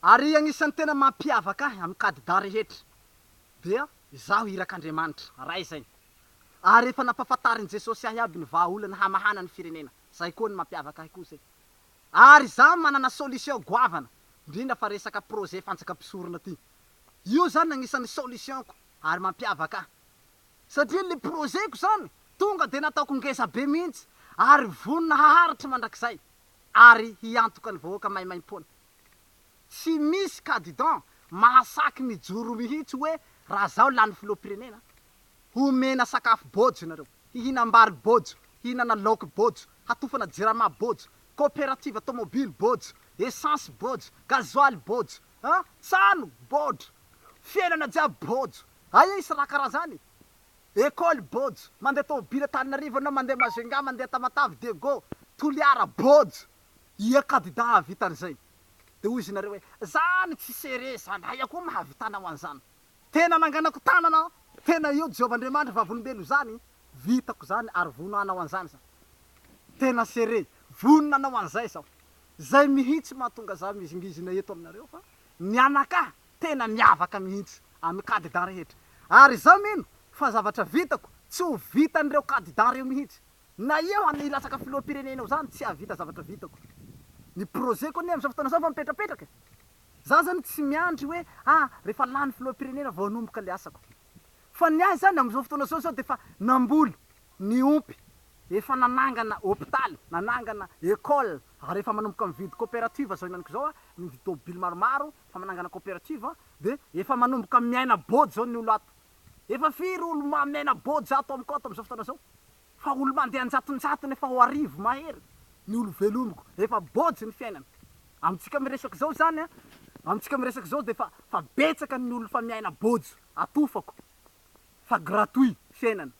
Ary agnisan'ny tena mampiavaka ahy amin'ny kadidà rehetra dia izaho irak'Andriamanitra Ray izay. Ary efa nampafantarin'i Jesosy ahy aby ny vahaolana hamahana ny firenena, izay koa ny mampiavaka ahy koa izay. Ary izaho manana solution goavana, indrindra fa resaka projet fanjakam-pisorona ty. Io izany agnisan'ny solution-ko ary mampiavaka ahy. Satria ilay projet-ko izany tonga dia nataoko ngeza be mihitsy ary vonona haharitra mandrakizay. ary hiantoka ny vahoaka maimaimpoana. Tsy misy cadidan mahasaky mijoro mihitsy hoe raha zaho lany filoham-pirenena, homena sakafo bojo nareo, hihinam-bary bojo, hihinana laoky bojo, hatofana jirama bojo, cooperative tomobily bojo, essence bojo, gasoil bojo, an, tsano bodro, fiainana jiaby bojo. Aia i sraka raha zany? Ecole Bojo, mandeha tomobily Antananarivo ianao, mandeha Majunga, mandeha Tamatave, Diego, Toliara, Bojo. Ia kandida hahavita an'izay? Dia hoy izy nareo hoe, Zany tsy sere zany, aia koa mahavitanao an'izany? Tena nanganako tanana aho, tena io Jehovah Andriamanitra vavolombelonao izany, vitako izany ary vono hanao an'izany izaho. Tena sere, vonona hanao an'izay izaho. Izay mihitsy mahatonga izaho mizingizina eto aminareo fa mianakà tena miavaka mihitsy amin'ny kandida rehetra ary izaho mino fa zavatra vitako tsy ho vitan'ireo kandida ireo mihitsy. Na eo any hilatsaka filoham-pirenena eo izany tsy hahavita zavatra vitako. Ny projet-ko anie amin'izao fotoana izao efa mipetrapetraka e! Izaho izany tsy miandry hoe ah rehefa lany filoham-pirenena vao hanomboka ilay asako. Fa ny ahy izany amin'izao fotoana izao izaho dia efa namboly, niompy, efa nanangana hopitaly, nanangana école ary efa manomboka mividy coopérative izao henaniko izao aho, mividy tôbily maromaro, fa manangana cooperative a de efa manomboka miaina bôdy zao ny olo ato efa firy olo ma miaina bôdy za ato amiko ato amizao fotoana zao fa olo mandeha anjatonjatony efa ho arivo mahery ny olo velomiko efa bôdy ny fiainana amitsika miresaka zao zany a amitsika miresaka zao de fa fa betsaka ny olo fa miaina bôdy atofako fa gratuit fiainana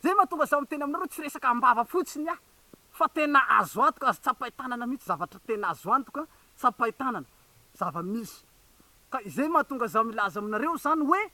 zay matonga za miteny aminareo tsy resaka ambava fotsiny aho Fa tena azo antoka, azo tsapain-tanana mihitsy zavatra tena azo antoka, tsapain-tanana, zava-misy. Ka izay mahatonga zaho milaza aminareo izany hoe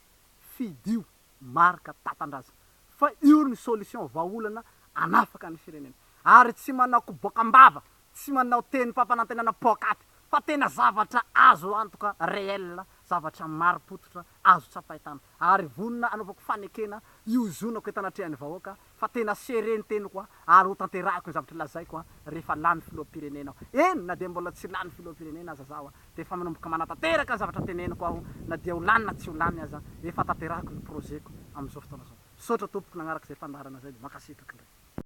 fidio marc tatandraza fa io ny solution vahaolana anafaka ny firenena. Ary tsy manao koboka am-bava, tsy manao tenim-pampanantenana poakaty fa tena zavatra azo antoka, réel, zavatra marim-pototra azo tsapain-tany ary vonona hanaovako fanekena hiozonako eto anatrehan'ny vahoaka fa tena sere ny teniko ary ho tanterahiko ny zavatra lazaiko rehefa lany filoham-pirenena aho. Eny na dia mbola tsy lany filoham-pirenena aza zaho dia efa manomboka manatanteraka ny zavatra teneniko aho na dia ho lany na tsy ho lany aza efa tanterahiko ny projet-ko amin'izao fotoana izao. Misaotra tompoko nagnaraka izay fandaharana izay. Mankasitraka indray.